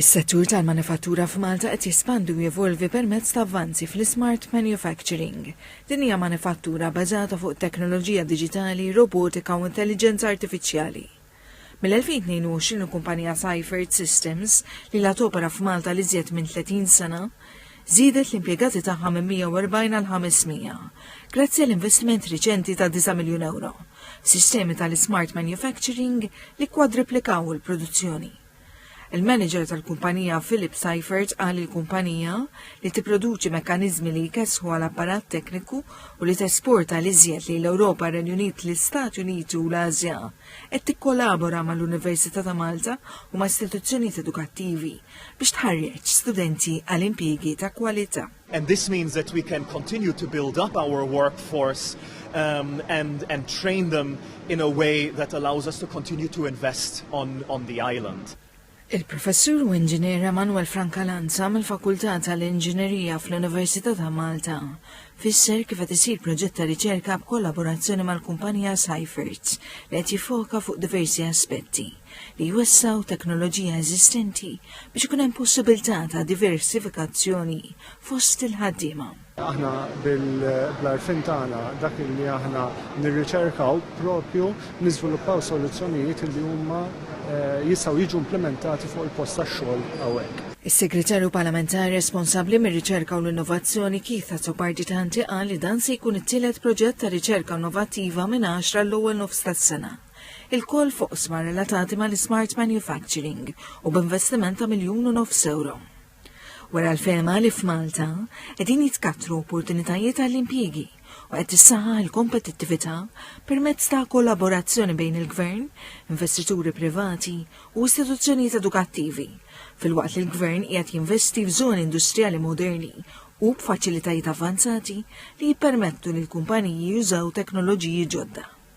Is-settur tal-manifattura f'Malta qed jespandi u jevolvi permezz ta' avvanzi fl-ismart manufacturing. Din hija manifattura bbażata fuq teknoloġija diġitali, robotika u intelliġenza artifiċjali. Mill-2022 il-kumpanija Seifert Systems, li ilha topera f'Malta għal iżjed minn 30 sena, żiedet l-impjegati tagħha minn 140 għal 500, grazzi għal investiment riċenti ta' disa' miljun ewro, f'sistemi tal-ismart manufacturing li kkwadriplikaw il-produzzjoni. Il-manager tal-kumpanija Philip Seifert qal li l-kumpanija, li tipproduċi mekkaniżmi li jkessħu għal apparat tekniku u li tesporta l-iżjed lejn l-Ewropa, ir-Renju Unit, l-Istati Uniti u l-Ażja, qed tikkolabora mal-Università ta' Malta u ma' istituzzjonijiet edukattivi biex tħarreġ studenti għal impjiegi ta' kwalità. And this means that we can continue to build up our workforce um, and, and train them in a way that allows us to continue to invest on, on the island. Il-professur u inġinier Emanuel Frankalanza mill-Fakultà tal-Inġinerija fl-Università ta' Malta fisser kif qed isir proġett ta' riċerka b'kollaborazzjoni mal-kumpanija Cyfert li qed jiffoka fuq diversi aspetti. li jwessgħu teknoloġija eżistenti biex ikun hemm possibilità ta' diversifikazzjoni fost il-ħaddiema. Aħna bil-arfin tagħna dak li aħna nirriċerkaw propju niżviluppaw soluzzjonijiet li huma eh, jistgħu jiġu implementati fuq il-post tax-xogħol hawnhekk. Is-Segretarju Parlamentari responsabbli mir-Riċerka u l-Innovazzjoni Keith Azzopardi Tanti qal li dan se jkun it-tielet proġett ta' riċerka innovattiva minn 10 l-ewwel nofs tas-sena. ilkoll f'oqsma relatati mal-ismart manufacturing u b'investiment ta' miljun u nofs ewro. Wera l-fehma li f'Malta qegħdin jitkattru opportunitajiet għall-impjiegi u qed tissaħħaħ il-kompetittività permezz ta' kollaborazzjoni bejn il-Gvern, investituri privati u istituzzjonijiet edukattivi, filwaqt li l-Gvern qiegħed jinvesti f'żoni industrijali moderni u b'faċilitajiet avvanzati li jippermettu lill-kumpaniji jużaw teknoloġiji ġodda.